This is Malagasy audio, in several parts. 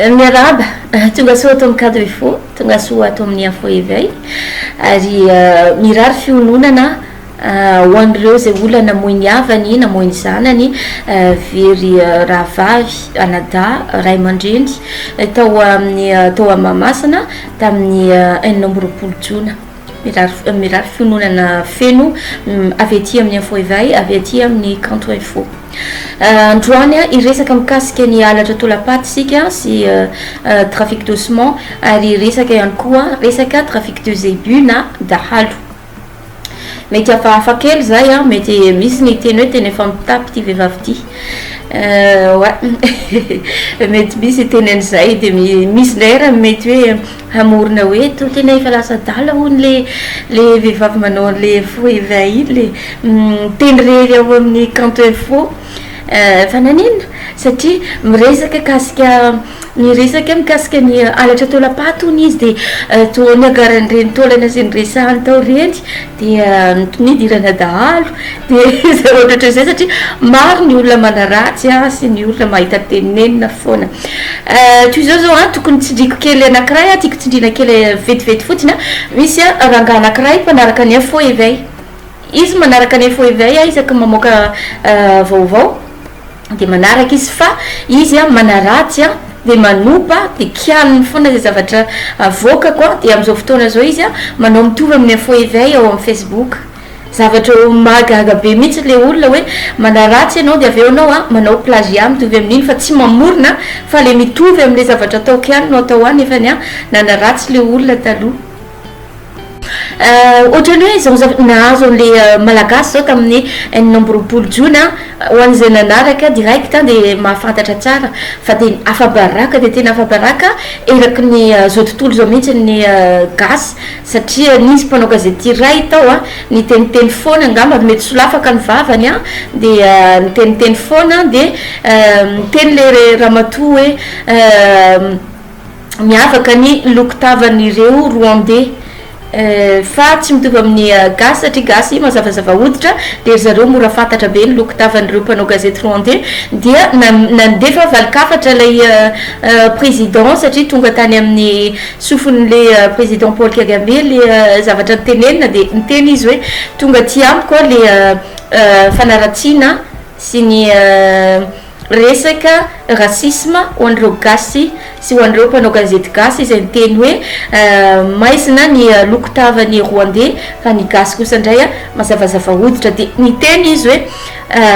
Euh, miaraba euh, tonga soa ato amin'ny cadre fo tonga soa ato amin'ny info éveil ary euh, mirary fiononana Ho an'ireo izay olona namoy ny havany, namoy ny zanany, very rahavavy, anadahy, ray aman-dreny, tao amin'ny tao amin'ny Mahamasina tamin'ny enina amby roapolo jona. Mirary mirary fiononana feno avy aty amin'ny Info Eveil, avy aty amin'ny Kanto Info. Androany hiresaka mikasika ny halatra tolapaty isika sy trafic d'ossement ary hiresaka ihany koa resaka trafic de zébu na dahalo. Mety hafahafa kely izay an, mety misy ny hiteny hoe tena efa mitapy ity vehivavy ity, oay mety misy hiteny an'izay, dia misy indray ary mety hoe hamorona hoe toa tena efa lasa adala hono le le vehivavy manao an'le faux reva iny, le miteny irery ao amin'ny kanto info, fa naninona? satria miresaka kasika. Niresaka mikasika ny halatra taolam-paty hono izy dia toa niagaran'ireny taolana izay niresahany tao ireny dia nidiranà dahalo dia zavatra ohatrany izay satria maro ny olona manaratsy azy sy ny olona mahita tenenina foana toy izao zao an tokony tsindriko kely anakiray an tiako tsindriana kely vetivety fotsiny an misy an rangaha anakiray mpanaraka ny info éveil izy manaraka ny info éveil an isaky ny mamoaka vaovao Dia manaraka izy fa izy an manaratsy an dia manopa dia kialiny foana izay zavatra avoakako an dia amin'izao fotoana izao izy an manao mitovy amin'ny info eveil ao amin'ny facebook zavatra oh mahagaga be mihitsy ilay olona hoe manaratsy ianao dia avy eo ianao an manao plagiat mitovy amin'iny fa tsy mamorona fa ilay mitovy amin'ilay zavatra ataoko ihany no atao an nefa ny an nanaratsy ilay olona taloha Ohatran'ny hoe izao zavatra nahazo an'ilay Malagasy izao tamin'ny enina amby roapolo jona, ho an'izay nanaraka direct dia mahafantatra tsara fa dia afa-baraka dia tena afa-baraka eraky ny izao tontolo izao mihitsy ny Gasy satria nisy mpanao gazety iray tao niteniteny foana angamba mety solafaka ny vavany dia niteniteny foana dia niteny ilay ramatoa hoe miavaka ny lokon-tavan'ireo Rwandais fa tsy mitovy amin'ny Gasy satria Gasy mazavazava hoditra dia ry zareo mora fantatra be ny lokon-tavan'ireo mpanao gazety Rwandais dia nandefa valin-kafatra ilay Président satria tonga tany amin'ny sofin'ilay Président Paul Kagame ilay zavatra notenenina dia niteny izy hoe tonga aty amiko ilay fanaratsiana sy ny Resaka racisme ho an'ireo gasy sy ho an'ireo mpanao gazety gasy izay niteny hoe maizina ny loko tavan'ny Rwandais fa ny gasy kosa indray mazavazava hoditra dia niteny izy hoe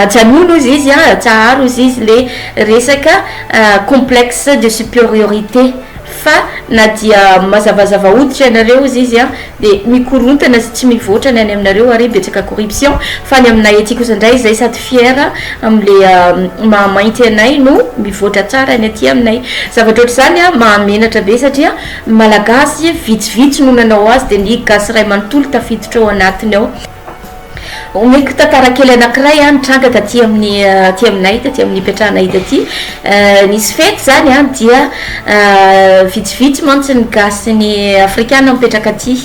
ajanony hozy izy an, atsaharo hozy izy ilay resaka complexe de superiorité Fa na dia mazavazava hoditra ianareo ozy izy dia mikorontana sy tsy mivoatra ny any aminareo ary betsaka corruption, fa ny aminay aty kosa indray izay sady fiera amle maha mainty anay no mivoatra tsara ny aty aminay. Zavatra ohatr'izany mahamenatra be satria malagasy vitsivitsy no nanao azy dia ny gasy iray manontolo tafiditra ao anatiny ao. Omeko tantara kely anankiray an, nitranga taty amin'ny aty aminay taty amin'ny ipetrahanay taty nisy fety zany an dia vitsivitsy mantsy ny gasy sy ny afrikana mipetraka aty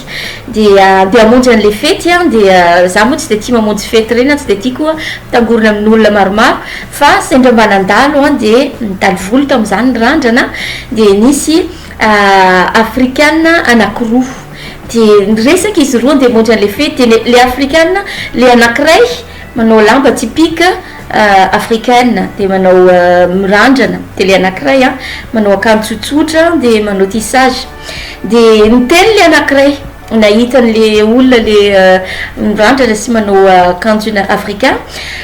dia andeha hamonjy an'le fety an dia za moa tsy de tia mamonjy fety reny an tsy de tia koa mitangorona amin'olona maromaro fa sendra mba nandalo an dia nitaly vola tamin'izany ny randrana dia nisy afrikana anankiroa Dia niresaka izy roa handeha hamonjy an'ilay fety, dia ilay afrikana, ilay anankiray manao lamba typique africaine, dia manao mirandrana, dia ilay anankiray an, manao akanjo tsotsotra dia manao tissage, dia niteny ilay anankiray nahita an'ilay olona le mirandrana sy manao akanjo africain,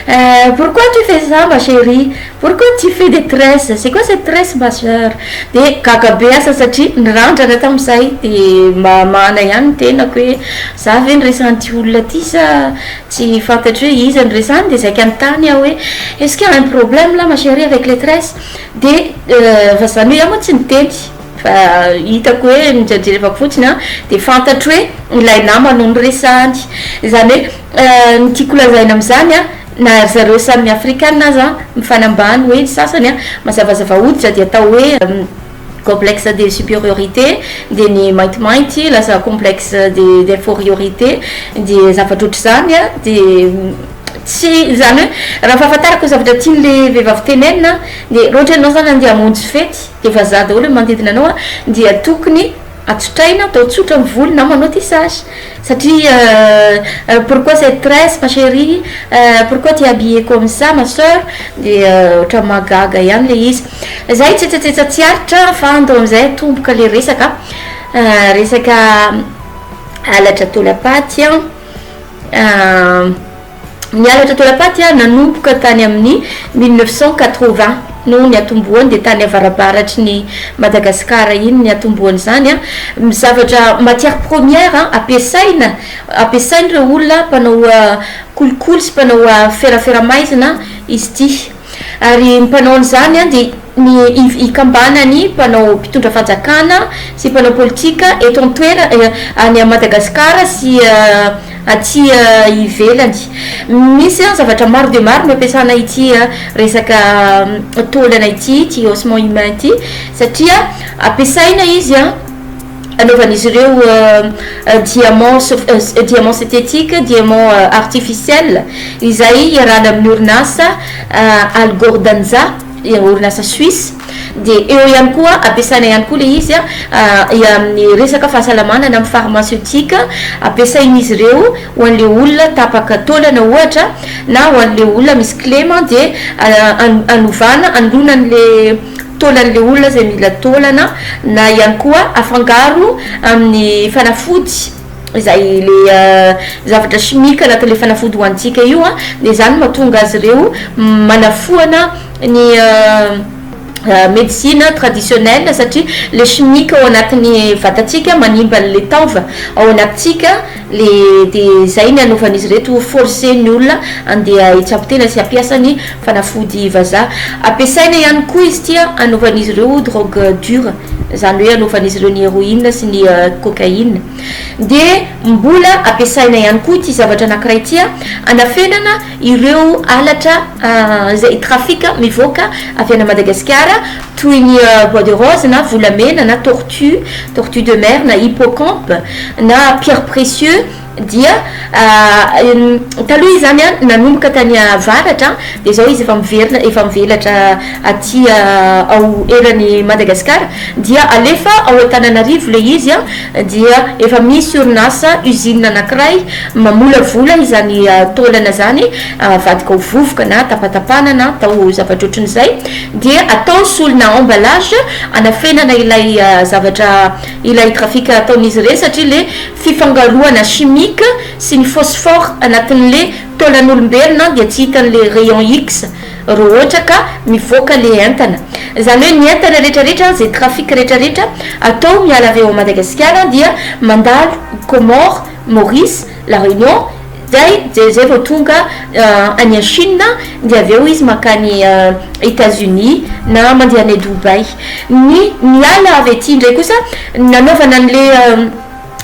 eh pourquoi tu fais ça ma cherie? Pourquoi tu fais des tresses? C'est quoi cette tresse ma soeur? De gaga be asa satria nirandrana tamin'izay de mba hamahana ihany ny tenako hoe za ve no resan'ity olona ity sa tsy fantatro hoe iza no resany de zay ka nitany aho hoe est-ce qu'il y a un problème là ma cherie avec les tresses? de fa zany hoe iah moa tsy niteny fa hitako hoe nojerjerevako fotsiny an de fantatro hoe ilay namany no noresahany izany hoe ny tiako lazaina amin'izany an Na ry zareo samy afrikana aza mifanambany hoe ny sasany an, mazavazava hoditra dia atao hoe complexe de superiorité, dia ny maintimainty lasa complexe de d'inforiorité, dia zavatra ohatr'izany an, dia tsy, izany hoe raha fahafantarako ny zavatra tian'ilay vehivavy tenenina an, dia raha ohatra ianao izany andeha hamonjy fety dia vazaha daholo ny manodidina anao an, dia tokony. Atsotraina, atao tsotra ny volo na manao tissage satria euh pourquoi cette tresse ma cherie euh pourquoi tu es habillée comme ça ma soeur dia ohatran'ny mahagaga ihany ilay izy izay tsetsatsetsa tsy aritra fa ando amin'izay atomboka ilay resaka euh resaka halatra taolam-paty an euh Ny halatra toera-paty nanomboka tany amin' ny mille neuf cent quatre-vingts no niatombohany dia tany avarabaratry ny Madagasikara iny niatombohany izany. Ny zavatra matière première ampiasaina ampiasain' ireo olona mpanao kolikoly sy mpanao ferafera-maizina izy ity. Ary ny mpanao an'izany dia ny iv ikambanan'ny mpanao mpitondra fanjakana sy mpanao politika eto an-toerana, any Madagasikara sy aty ivelany. Misy zavatra maro dia maro no ampiasana ity resaka taolana ity, ity haussement humain ity, satria ampiasaina izy. anaovan'izy ireo diamants, diamants synthétiques, diamants artificiels, izay iarahana amin'ny orinasa Algordanja, orinasa Suisse, dia eo ihany koa ampiasaina ihany koa ilay izy amin'ny resaka fahasalamana na amin'ny pharmaceutique, ampiasain'izy ireo ho an'ilay olona tapaka taolana ohatra na ho an'ilay olona misy kilema dia hanovana, hanoloana an'ilay. taolan'ilay olona izay mila taolana na ihany koa afangaro amin'ny fanafody izay le zavatra chimique anatin'ilay fanafody hohanintsika io an dia izany no mahatonga azy ireo manafoana ny medecine traditionnelle satria le chimique ao anatin'ny vatantsika manimba an'ilay taova ao anatintsika le de zay ny anaovan'izy reto force ny olona andeha hitsabo tena sy hampiasa ny fanafody vazaha ampiasaina ihany koa izy ity an anaovan'izy ireo drogue dure zany hoe anaovan'izy ireo ny heroine sy ny cocaine de mbola ampiasaina ihany koa ity zavatra anakiray ity an anafenana ireo halatra izay trafic mivoaka avy any Madagasikara toy ny bois de rose na volamena na tortue, tortue de mer na hippocampe na pierre précieux dia taloha izany an nanomboka tany avaratra dia izao izy efa miverina efa mivelatra aty ao eran'i Madagasikara dia alefa ao Antananarivo ilay izy an dia efa misy orinasa usine anankiray mamolavola izany taolana izany avadika ho vovoka na tapatapahana na atao zavatra ohatran'izay dia atao solona emballage anafenana ilay zavatra ilay trafic ataon'izy ireny satria le fifangaroana chimique sy ny phosphore anatin'le taolan'olombelona dia tsy hitan'le rayon X raha ohatra ka mivoaka le entana zany hoe ny entana retraretra ze trafic retraretra atao miala avy ao Madagasikara dia mandalo Comores, Maurice, La Réunion, zay dia zay vao tonga any Chine dia avy eo izy mankany Etats Unis na mandeha any Dubaï. Ny miala avy aty indray kosa nanaovana an'le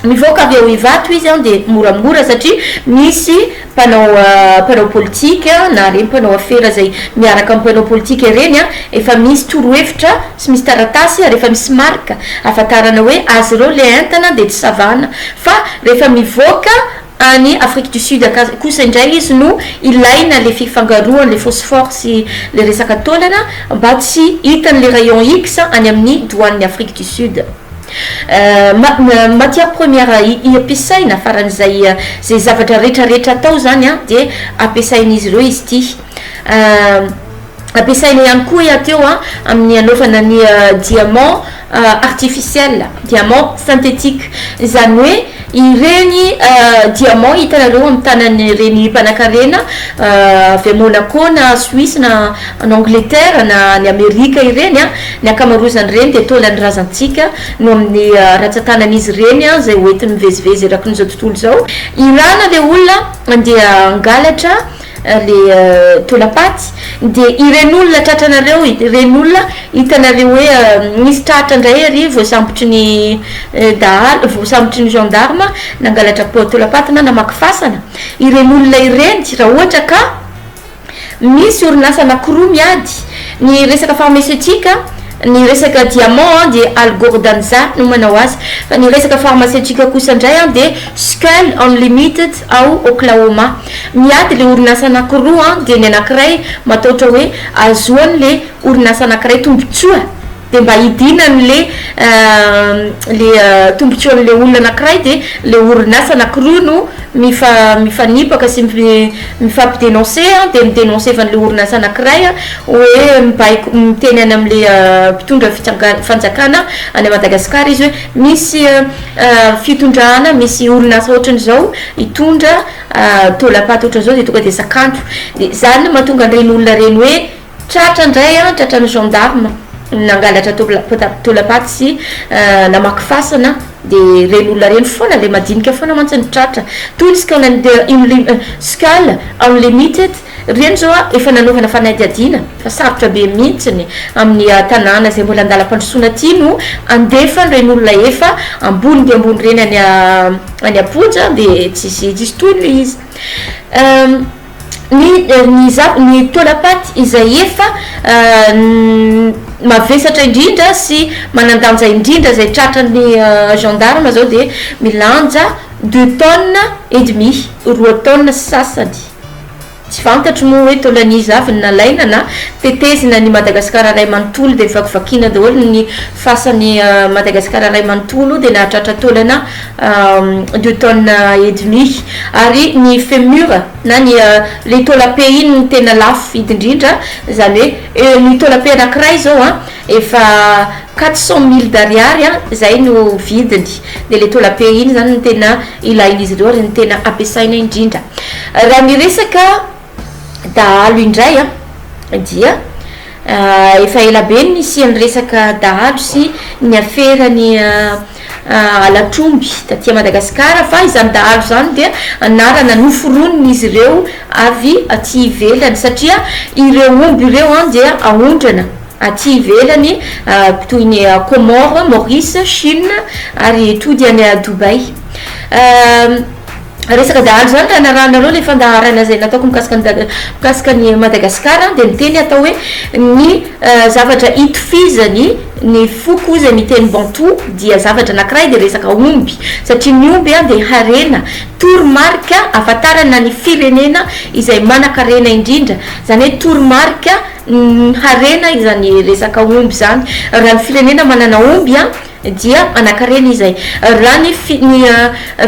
mivoaka avy ao Ivato izy an dia moramora satria misy mpanao mpanao politika na ireny mpanao afera zay miaraka amin'ny mpanao politika ireny an efa misy torohevitra Tsy misy taratasy ary efa misy marika ahafantarana hoe azy ireo le entana dia tsy savana fa rehefa mivoaka any Afrique du Sud akasy kosa indray izy no ilaina le fifangaroan le phosphore sy le resaka taolana mba tsy hitan le rayon X any amin ny douane ny Afrique du Sud matière première iampisaina faran'izay ze zavatra retraretra atao zany dia ampiasain'izy ireo izy ity. Ampiasaina ihany koa i Ateo amin'ny hanaovana ny diamant artificiel, diamant synthétique. Izany hoe ireny diamant hitanareo amin'ny tanan'ireny mpanankarena avy any Monaco na Suisse na any Angleterre na any Amerika ireny, ny ankamaroan'izany dia taolan'ny razantsika noho amin'ny rantsan-tanan'izy ireny izay hoentiny mivezivezy eraky izao tontolo izao. Irana ilay olona dia hangalatra. le tolapaty de ireny olona tratranareo ireny olona hitanareo hoe misy tratra ndray ary voasambotry ny dahalo voasambotry ny gendarme nangalatra tolapaty na namaky fasana ireny olona ireny raha ohatra ka misy orinasa anakiroa miady ny resaka pharmaceutique ny resaka diamant an de algordanza no manao azy fa ny resaka pharmaceutique kosa ndray an de skull unlimited ao oklahoma Miady le orinasa anakiroa an dia ny anakiray mataotra hoe azoan le orinasa anakiray tombotsoa dia mba hidinany le le tombotsoan le olona anakiray dia le orinasa anakiroa no mifa mifanipaka sy mifampi denonce an dia mi denonce evan le orinasa anakiray an hoe mibaiko miteny any am le mpitondra fitsangan fanjakana any Madagascar izy hoe misy fitondrana misy orinasa otran izao hitondra Taolam-paty ohatran'izao dia tonga dia zakanto. Dia izany no mahatonga an'ireny olona ireny hoe tratra indray an, tratran'ny gendarme nangalatra taolam-paty sy namaky fasana dia ireny olona ireny foana ilay madinika foana mantsy no tratra. Toy ny Skull and Skull Unlimited Ireny izao efa nanaovana fanadihadiana fa sarotra be mihitsiny amin'ny tanàna izay mbola an-dalam-pandrosoana ity no handefa ireny olona efa ambony dia ambony ireny any any am-ponja dia tsisy tsisy tohiny ilay izy. Ny ny za ny taolam-paty izay efa mavesatra indrindra sy manan-danja indrindra izay tratran'ny gendarme izao dia milanja deux tonnes et demi, roa taonina sy sasany. Tsy fantatro moa hoe taolan'iza avy ny nalaina na tetezina ny Madagasikara iray manontolo dia vakivakiana daholo ny fasan'i Madagasikara iray manontolo dia nahatratra taolana deux tonnes et demi ary ny femur na ny ilay taolam-pe iny no tena lafo vidy indrindra izany hoe ny taolam-pe anankiray izao an efa Quatre cent mille d'ariary an, zay no vidiny, de le taola pays iny zany no tena ilain'izy ireo ary ny tena ampiasaina indrindra. Raha ny resaka dahalo indray an, dia efa ela be ny nisian'ny resaka dahalo sy ny afera ny halatr'omby taty Madagasikara, fa izany dahalo izany dia anarana noforonin'izy ireo avy aty ivelany, satria ireo omby ireo an dia aondrana, Aty ivelany, toy ny Comores, Maurice, Chine, ary tody any Dubaï. Resaka dahalo izany raha narahanareo ilay fandaharana izay nataoko mikasika an'i Daga- mikasika an'i Madagasikara dia miteny atao hoe ny zavatra itofizany ny foko izay miteny Bantou dia zavatra anankiray dia resaka omby satria ny omby dia harena, toromarika ahafantarana ny firenena izay manan-karena indrindra, izany hoe toromarika. Ny harena izany resaka omby izany, raha ny firenena manana omby an, dia manan-karena izy izay. Raha ny fi, ny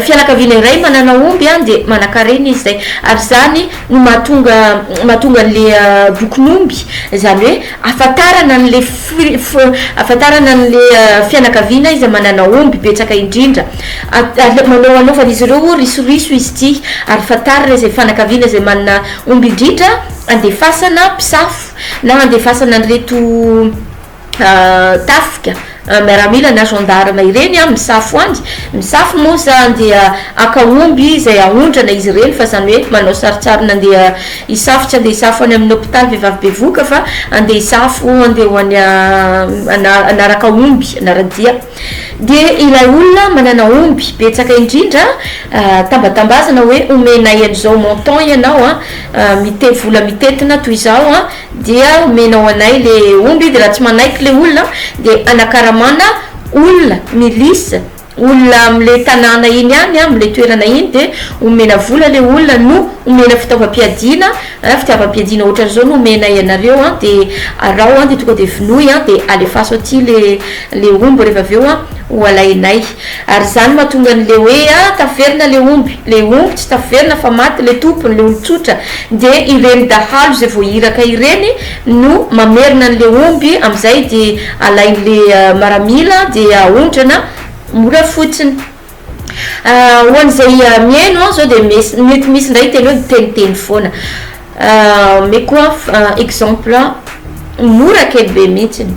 fianakaviana iray manana omby an, dia manan-karena izy izay. Ary izany no mahatonga, mahatonga an'ilay bokin'omby, izany hoe ahafantarana an'ilay fi, fi, ahafantarana an'ilay fianakaviana izay manana omby betsaka indrindra. At, at, manao, anaovan'izy ireo risoriso izy ity ary fantarina izay fanakaviana izay manana omby indrindra handefasana mpisafo na handefasana an'ireto tafika miaramila na gendarme ireny misafo any, misafo moa izany dia haka omby izay haondrana izy ireny fa izany hoe manao sarintsariny handeha hisafo, tsy handeha hisafo any amin'ny hopitaly vehivavy bevohoka fa handeha hisafo handeha ho any hanaraka omby hanara-dia. Dia ilay olona manana omby betsaka indrindra tambatambazana hoe omenay an'izao montant ianao an, mite vola mitentina toy izao an, dia omenao anay le omby, dia raha tsy manaiky le olona dia anakaramana olona, milice, olona amle tanàna iny ihany, amle toerana iny, dia omena vola le olona no omena fitaovam-piadiana, An, fitiavam-piadiana ohatran'izao no omenay anareo an, dia araho an, dia tonga dia vonoy an, dia alefaso aty le le omby rehefa avy eo an, ho alainay. Ary izany mahatonga an'le hoe an, taverina le omby, le omby tsy taverina fa maty le tompony, le olon-tsotra, dia ireny dahalo izay vao iraka ireny no mamerina an'le omby, amin'izay dia alain'le maramila dia aondrana mora fotsiny. Ho an'izay mihaino aho izao dia mety misy indray hiteny hoe miteniteny foana. Omeko aho exemple mora kely be mihitsiny.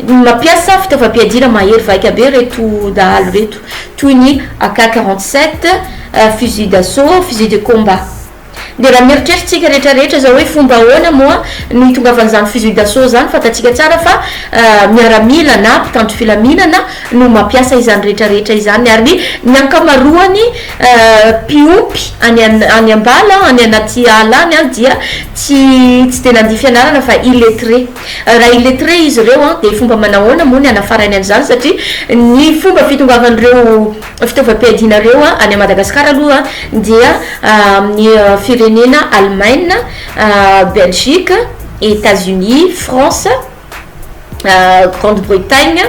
Mampiasa fitaovam-piadiana mahery vaika be ireto dahalo ireto, toy ny AK 47, fusil d'assaut, fusil de combat. Dia raha mieritreritsika rehetra rehetra izao hoe fomba ahoana moa no hitongavan'izany fusil d'assaut izany, fantatsika tsara fa miaramila na mpitandro filaminana no mampiasa izany rehetra rehetra izany ary ny ankamaroany mpiompy any any ambala any anaty ala any an dia tsy tsy dia nandia fianarana fa illettré raha illettré izy ireo an dia fomba manahoana moa ny hanafarainy an'izany satria ny fomba fitongavan'ireo fitaovam-piadianareo any Madagascar aloha dia amin'ny firenena Allemagne, Belgique, Etats Unis, France, Grande Bretagne,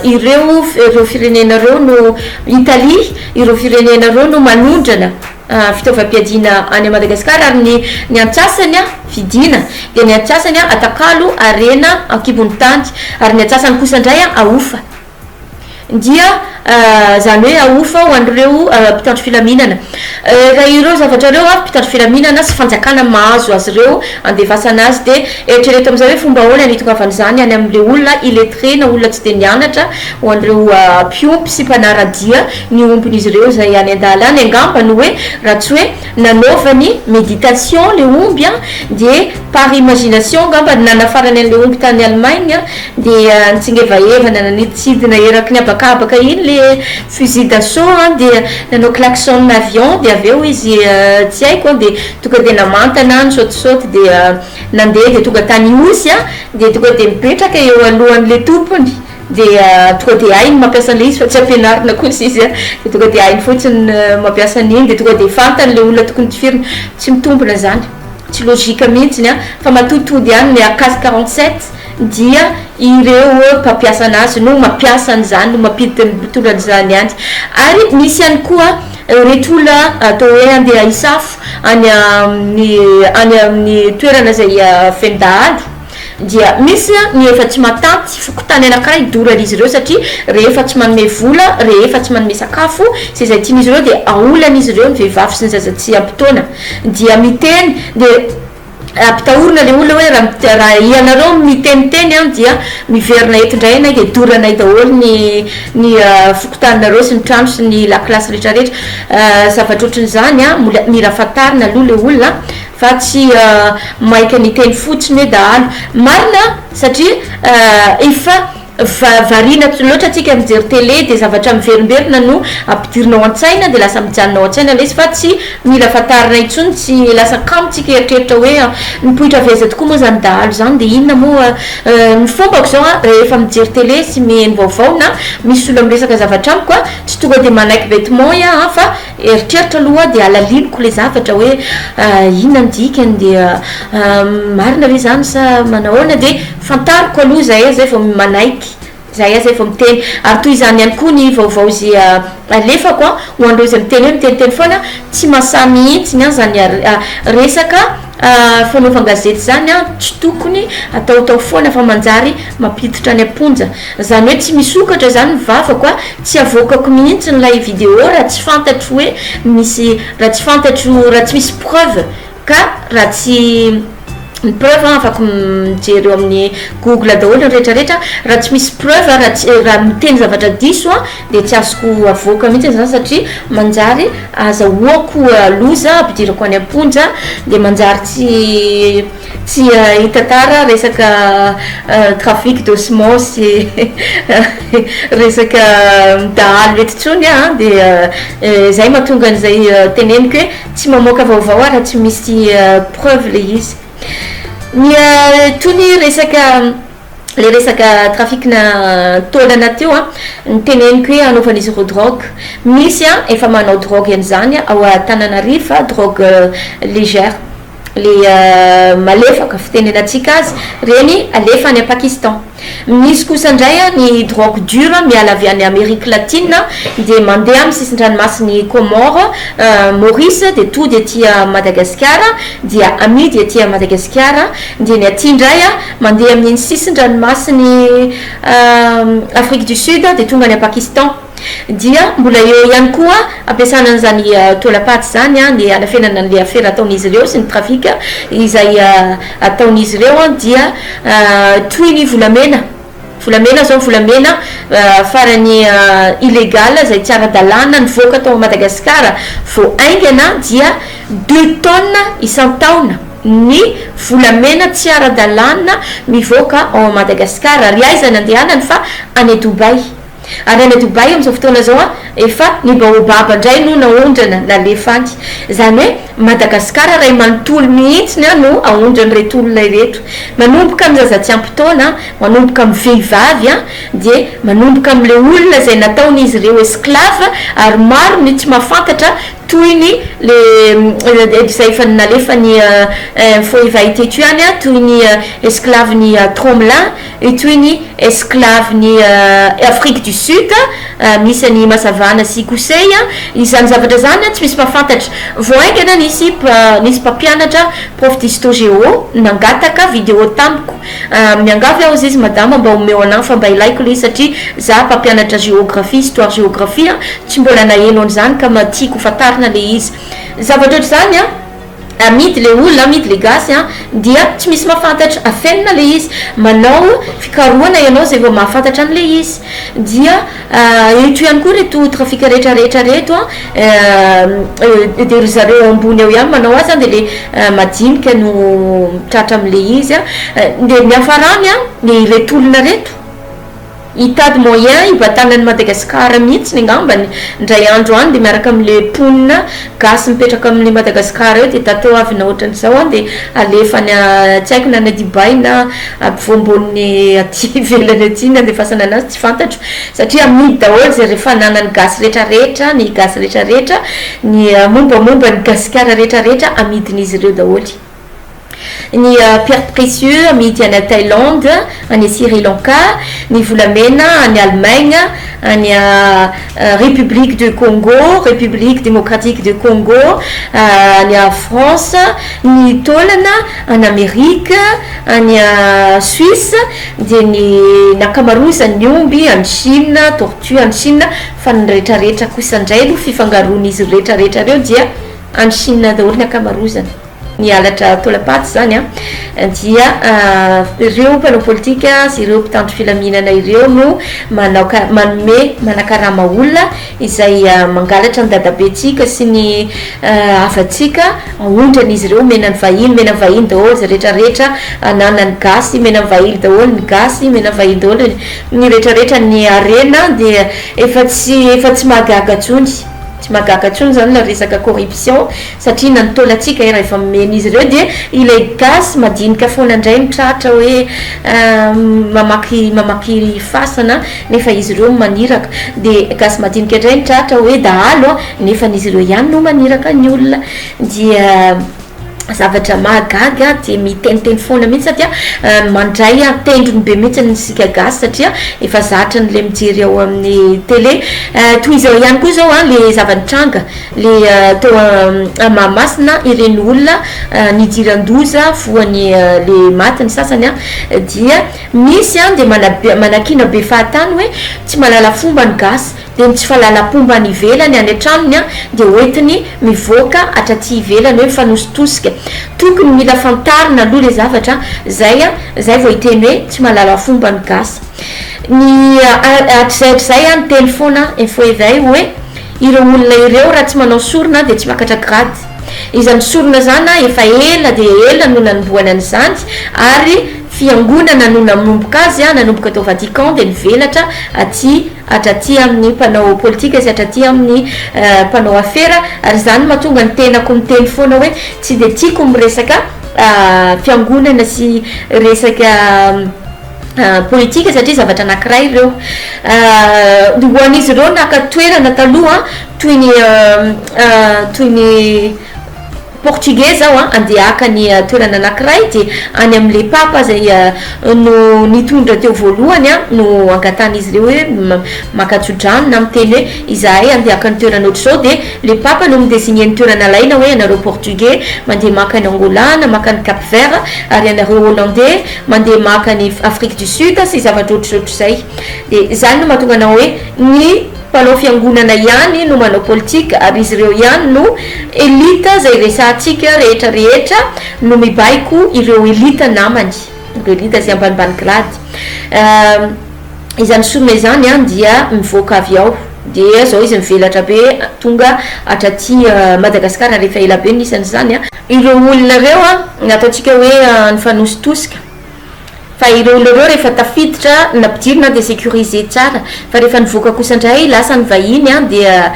ireo ireo firenena ireo no Italie, ireo firenena ireo no manondrana fitaovam-piadiana any Madagascar ary ny ny antsasany an vidiana dia ny antsasany an atakalo harena ankibon'ny tany ary ny antsasany kosa indray an ahofa. dia izany hoe ahofa ho an'ireo mpitandro filaminana. Raha ireo zavatra ireo avy, mpitandro filaminana sy fanjakana mahazo azy ireo handefasana azy, dia eritrereto amin'izay hoe fomba ahoana ny hitongavan'izany any amin'ilay olona illettré na olona tsy dia nianatra ho an'ireo mpiompy sy mpanara-dia ny ombin'izy ireo izay any an-dalana. Angamba no hoe raha tsy hoe nanaovany méditation le omby an, dia par imagination angamba no nanafarany an'ilay omby tany Allemagne an, dia nitsingevahevana nanidintsidina eraky ny habakabaka iny le fusil d'assaut an, dia nanao klaxon avion, dia avy eo izy tsy haiko an, dia tonga dia namantana an, nisaotisaoty dia nandeha dia tonga tany Ihosy an, dia tonga dia mipetraka eo alohan'ilay tompony. dia tonga dia hainy mampiasa an'ilay izy fa tsy ampianarina kosa izy an, dia tonga dia hainy fotsiny mampiasa an'iny dia tonga dia fantany ilay olona tokony tifirina, tsy mitombina izany, tsy logique mihintsiny an, fa matoa tody ihany ny cas quarante sept dia ireo mpampiasa an'azy no mampiasa an'izany no mampiditra ny mpitondra an'izany ihany, ary misy ihany koa ireto olona atao hoe handeha hisafo any amin'ny any amin'ny toerana izay feno dahalo, Dia misy ny efa tsy matanty, fokontany anankiray dorany izy ireo satria rehefa tsy manome vola, rehefa tsy manome sakafo sy izay tian'izy ireo dia aolana izy ireo ny vehivavy sy ny zaza tsy ampy taona dia miteny dia ampitahorina ilay olona hoe raha raha ianareo no miteniteny an dia miverina eto indray ianay dia doranay daholo ny ny fokontaninareo sy ny trano sy ny lakilasy rehetra rehetra zavatra ohatran'izany an mbola mila fantarina aloha ilay olona Fa tsy maika ny teny fotsiny hoe dahalo. Marina satria efa variana loatra tsika mijery tele dia zavatra miverimberina no ampidirina ao an-tsaina dia lasa mijanona ao an-tsaina ilay izy fa tsy mila fantarina intsony tsy lasa kamo tsika hieritreritra hoe nipoitra avy aiza tokoa moa izany dahalo izany dia inona moa ny fombako izao an rehefa mijery tele sy miheno vaovao na misy olona miresaka zavatra amiko an tsy tonga dia manaiky betement iah an fa Eritreritra aloha hoa dia alaliniko ilay zavatra hoe inona ny dikany dia marina ve izany sa manahoana dia fantariko aloha izay aho izay vao manaiky izay aho izay vao miteny ary toy izany ihany koa ny vaovao izay alefako an ho an'ireo izay miteny hoe miteniteny foana tsy mahasahy mihintsy ny an izany resaka Ah fanaovan-gazety zany an tsy tokony ataotao foana fa manjary mampiditra any am-ponja. Zany hoe tsy misokatra zany ny vavako a, tsy avoakako mihitsy ilay video raha tsy fantatro hoe misy, raha tsy fantatro, raha tsy misy preuve ka raha tsy ny preuve an afaka mijery eo amin'ny google daholo ny retraretra, raha tsy misy preuve, raha tsy, raha miteny zavatra diso an. dia tsy azoko avoaka mihitsy izany satria manjary azahoako loza ampidirako any am-ponja dia manjary tsy tsy hitantara resaka trafic de semence sy resaka dahalo eto intsony aho an dia izay mahatonga an'izay teneniko hoe tsy mamoaka vaovao aho raha tsy misy preuve ilay izy ny toy ny resaka ilay resaka trafic-na taolana teo an, ny teneniko hoe anaovan'izy ireo drogue, misy an efa manao drogue an'izany ao Antananarivo fa drogue légère, ilay malefaka fitenenantsika azy, ireny alefa any Pakistan. Misy kosa indray an ny drogue dure miala avy any Amerique Latine dia mandeha amin'ny sisin-dranomasin'i Comores, Maurice dia tody aty Madagasikara dia amidy aty Madagasikara dia ny aty indray an Mandeha amin'iny sisin-dranomasin'i Afrique du Sud dia tonga any Pakistan. Dia mbola eo ihany koa ampiasana an'izany taolam-paty izany ny hanafenana an'ilay afera ataon'izy ireo sy ny trafic izay ataon'izy ireo dia toy ny volamena. Volamena izao, volamena farany illégal izay tsy ara-dalàna nivoaka tao Madagasikara vao haingana dia deux tonnes isan-taona. ny volamena tsy ara-dalàna mivoaka ao Madagascar ary aiza ny andehanany fa any Dubaï ary any Dubaï amin'izao fotoana izao efa ny baobab indray no naondrana nalefa any izany hoe Madagascar iray manontolo mihitsy no aondran'ireto olona ireto manomboka amin'ny zaza tsy ampy taona manomboka amin'ny vehivavy dia manomboka amin'ilay olona izay nataon'izy ireo esclave ary maro ny tsy mahafantatra Tohiny le edy zay efa nalefa ny info efa hita eto ihany a, tohiny esclave ny tromla, io tohiny esclave ny afrique du sud, misy any masavana sy kosey a, izany zavatra zany a tsy misy mpafantatra, vao haingana nisy nisy mpampianatra prof d'histo géo nangataka video tamiko, Ah miangavy aho ziz madama mba omeo anah fa mba ilaiko le satria zah mpampianatra géographie, histoire géographie an tsy mbola naheno an'izany ka mba tiako ho fantarina le izy zavatra ohatr'izany an amidy le olona amidy le gasy an dia tsy misy mahafantatra afenina le izy manao fikarohana ianao zay vao mahafantatra an'le izy dia Eto ihany koa reto trafic rehetra rehetra reto an dia ry zareo ambony ao ihany manao azy an dia le madinika no tratra amle izy an dia ny hafarany an dia ireto olona reto hitady moyen hibatana an'i Madagascar mihitsiny ngambany indray andro any dia miaraka amle mponina gasy mipetraka amle Madagascar eo dia tateo avy na otran'izao an dia alefa any tsy haiko na any Dubai na ampovoambonin'ny aty ivelany aty ny andefasana anazy Tsy fantatro satria amidy daholo izay re fananan'ny gasy rehetra rehetra, ny gasy rehetra rehetra, ny mombamomba an'i Gasikara rehetra rehetra amidin'izy ireo daholo. Ny pierres précieux amidy any Thaïlande, any Sri Lanka, ny volamena any Allemagne, any République de Congo, République démocratique de Congo, any France, ny taolana any Amerika, any Suisse, dia ny nakamaroizan'ny omby any Chine, tortue any Chine, fa ny retraretra kosa indray aloha fifangaroan'izy retraretra ireo dia any Chine daholo ny akamaroizany, ny halatra taolam-paty izany an, dia ireo mpanao politika sy ireo mpitandro filaminana ireo no manao ka, manome, manakarama olona, izay mangalatra ny dadabentsika sy ny havantsika, aondrany izy ireo, omena ny vahiny, omena ny vahiny daholo izay rehetra rehetra ananan'ny gasy, omena ny vahiny daholo ny gasy, omena ny vahiny daholo ny rehetra rehetra, ny harena dia efa tsy efa tsy mahagaga intsony, tsy mahagaga intsony izany ilay resaka corruption. Satria na ny taolantsika ary efa mimen'izy ireo dia ilay gasy madinika foana indray no tratra hoe mamaky mamaky fasana nefa izy ireo no maniraka. Dia gasy madinika indray no tratra hoe dahalo nefa izy ireo ihany no maniraka ny olona. Dia zavatra mahagaga ahy dia miteniteny foana mihitsy satria mandray tendrony be mihitsy isika gasy satria efa zatra an'ilay mijery ao amin'ny tele. Toy izao ihany koa izao ilay zava-nitranga. le teo a Mahamasina ireny olona nidiran-doza voany le maty ny sasany a dia misy a de manabe manakiana be fahatany hoe tsy mahalala fomba ny gasy de ny tsy fahalalampomba any ivelany any an-tranony a de hoentiny mivoaka hatraty ivelany hoe mifanositosika tokony mila fantarina aloha le zavatra zay a zay vao hiteny hoe tsy mahalala fomba ny gasy ny hatrizay hatrizay a ny teny foana info éveil hoe Ireo olona ireo raha tsy manao sorona dia tsy miakatra grade. Izany sorona izana efa ela dia ela no nanombohana an'izany ary fiangonana no nanomboka azy a, nanomboka tao Vatican dia nivelatra aty hatraty amin'ny mpanao politika sy hatraty amin'ny mpanao afera ary izany no mahatonga ny tenako miteny foana hoe tsy dia tiako miresaka fiangonana sy resaka politika satria zavatra anankiray ireo ho an'izy ireo naka toerana taloha toy ny toy ny portugais zao a andeha haka ny toerana anankiray dia any amin'ilay papa izay no nitondra teo voalohany a no angatahan'izy ireo hoe maka tso-drano na miteny hoe izahay andeha haka ny toerana ohatr'izao dia ilay papa no mi-designer ny toerana alaina hoe ianareo portugais mandeha maka an'i Angola na maka an'i Cap Vert ary ianareo hollandais mandeha maka any Afrique du Sud sy zavatra ohatrohatr'izay dia izany no mahatonga anao hoe ny mpanao fiangonana ihany no manao politique ary izy ireo ihany no elite izay resahantsika rehetra rehetra no mibaiko ireo elite namany ireo elite izay ambanimbany grade izany sorona izany an dia mivoaka avy ao dia izao izy mivelatra be tonga hatraty Madagascar ary efa ela be ny isany izany an Ireo olona ireo an, ataontsika hoe nifanositosika, fa ireo olona ireo rehefa tafiditra na mpidiry na dia securiser tsara, fa rehefa nivoaka kosa indray lasa ny vahiny an dia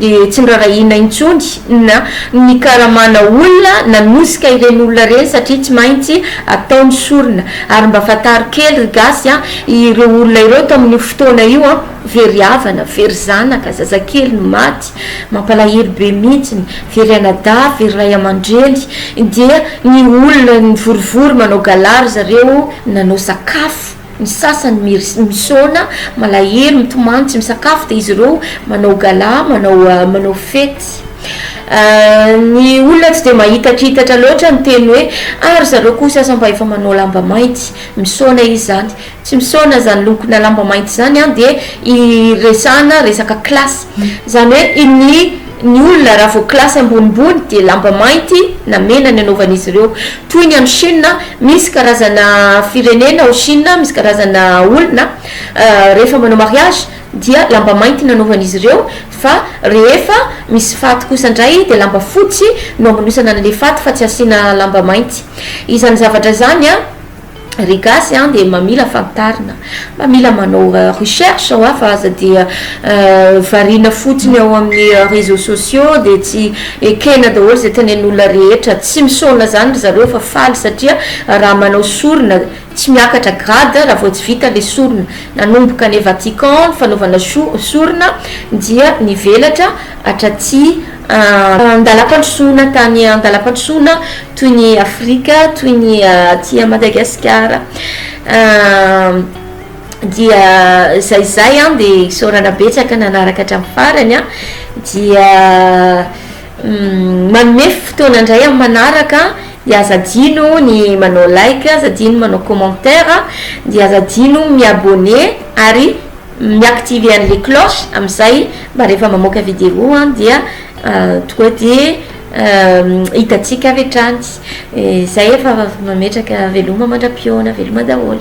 dia tsy norarahiana intsony na nikaramana olona nanosika ireny olona ireny satria tsy maintsy atao ny sorona, ary mba fantaro kely ry gasy an, ireo olona ireo tamin'io fotoana io an, very havana, very zanaka, zazakely, maty. Mampalahelo be mintsy ny very anadahy very ray amandreny dia ny olona mivorivory manao gala ry zareo nanao sakafo ny sasany misaona malahelo mitomany tsy misakafo dia izy ireo manao gala manao manao fety ny olona tsy dia mahitakitatra loatra ny teny hoe ah ry zareo koa sasany mba efa manao lamba mainty misaona izy zany tsy misaona zany lokona lamba mainty zany an dia iresahana resaka classe zany hoe iny ny olona raha vao classe ambonimbony dia lamba mainty na mena ny anaovan'izy ireo toy ny any chine misy karazana firenena ao chine misy karazana olona rehefa manao mariage dia lamba mainty ny anaovan'izy ireo fa rehefa misy faty kosa indray dia lamba fotsy no amanosana an'ilay faty fa tsy asiana lamba mainty izany zavatra izany an Ry gasy an dia mba mila fantarina, mba mila manao recherche hoa fa aza dia variana fotsiny ao amin'ny réseaux sociaux dia tsy ekena daholo izay tenen'olona rehetra, tsy misaona izany ry zareo fa faly satria raha manao sorona tsy miakatra grade raha vao tsy vita ilay sorona, nanomboka any Vatican ny fanaovana sorona dia nivelatra hatraty An-dalam-pandrosoana tany an-dalam-pandrosoana toy ny Afrika, toy ny aty Madagasikara dia izay izay an dia isaorana betsaka nanaraka hatramin'ny farany an dia manome fotoana indray amin'ny manaraka dia aza adino ny manao like, aza adino ny manao commentaire dia aza adino ny mi-abonner ary. mi-activer an'ilay cloche amin'izay mba rehefa mamoaka vidéo an dia tonga dia hitantsika avy hatrany izay efa mametraka veloma mandra-pihaona veloma daholo